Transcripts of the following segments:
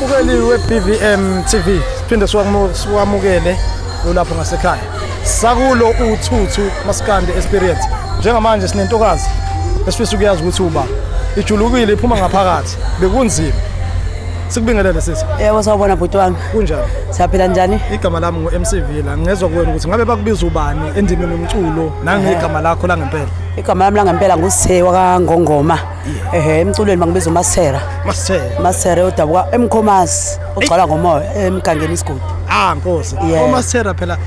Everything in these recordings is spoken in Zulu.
Mukeli we-BVM TV siphinde siwamukele ulapho ngasekhaya sakulo uthuthu maskandi experience njengamanje sinentokazi esifisa ukuyazi ukuthi uba ijulukile iphuma ngaphakathi bekunzima sikubingelele sisi yebo sawubona bhuti wami kunjani siyaphila njani igama lami ngu-mcv la ngezwa kuwena ukuthi ngabe bakubiza ubani endimeni yomculo nangegama lakho langempela igama lami langempela ngusithe wakangongoma ehe emculweni bangibiza umasera masithela masera odabuka emkhomazi ogcwala ngomoya emgangeni isigodi ah nkosi Yeah. omasithela phela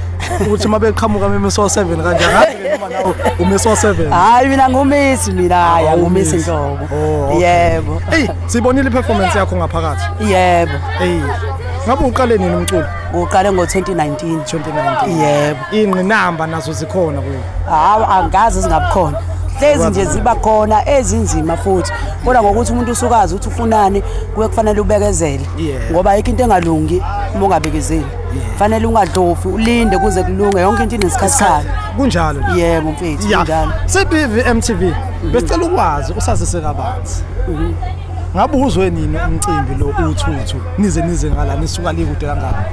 ukuthi uma beqhamuka memiso 7 kanjani ngabe noma nawe umiso 7 hayi mina ngumisi mina hayi angumisi nhlobo Oh, okay. yebo eyi Sibonile iperformance yakho ngaphakathi. Yebo. Hey. Ngabe uqale nini umculo? Uqale ngo-2019. 2019. Yebo. Ingqinamba nazo zikhona kuyo. Hawu angazi zingabukhona. lezi nje ziba khona ezinzima futhi kodwa ngokuthi umuntu usukazi ukuthi ufunani kuye kufanele ubekezele ngoba ayikho into engalungi uma ungabekezeli fanele ungadlofi ulinde kuze kulunge yonke into inesikhathi sayo kunjalo yebo mfethu kunjalo sebivi mtv besicela ukwazi usazise kabani Pirates. Mhm. Ngabe uzwe nini umcimbi lo uthuthu nize nize ngala nisuka likude kangaka?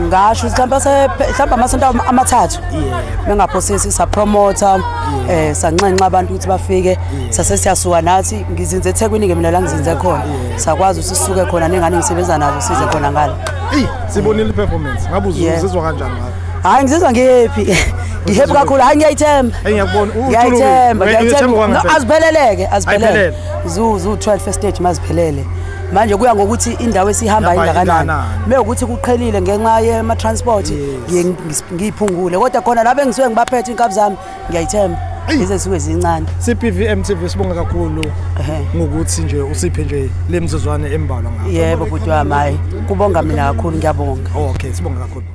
Ngasho mhlawumbe se mhlawumbe amasonto amathathu. Yeah. Bengaphosisi sa promoter eh sanxenxa abantu ukuthi bafike sase siyasuka nathi ngizinze eThekwini ke mina la ngizinze khona. Sakwazi usisuke khona nengane ngisebenza nazo size khona ngala. Ey sibonile performance. Ngabe uzizwa kanjani ngayo? hayi ngizizwa ngihappy ngihappy kakhulu hayi ngiyayithemba ngiyayithemba ngiyayithemba azipheleleke aziphelele zuzu 12 stage maziphelele manje kuya ngokuthi indawo esihamba ingakanani me ukuthi kuqhelile ngenxa yema-transport ngiyiphungule kodwa khona laba engisuke ngibaphethe iy'nkabi zami ngiyayithemba ize suke zincane CPVM TV sibonga kakhulu ngokuthi nje usiphe nje lemizuzwane embalwa ngakho yebo bhuti wami hayi kubonga mina kakhulu ngiyabonga okay sibonga kakhulu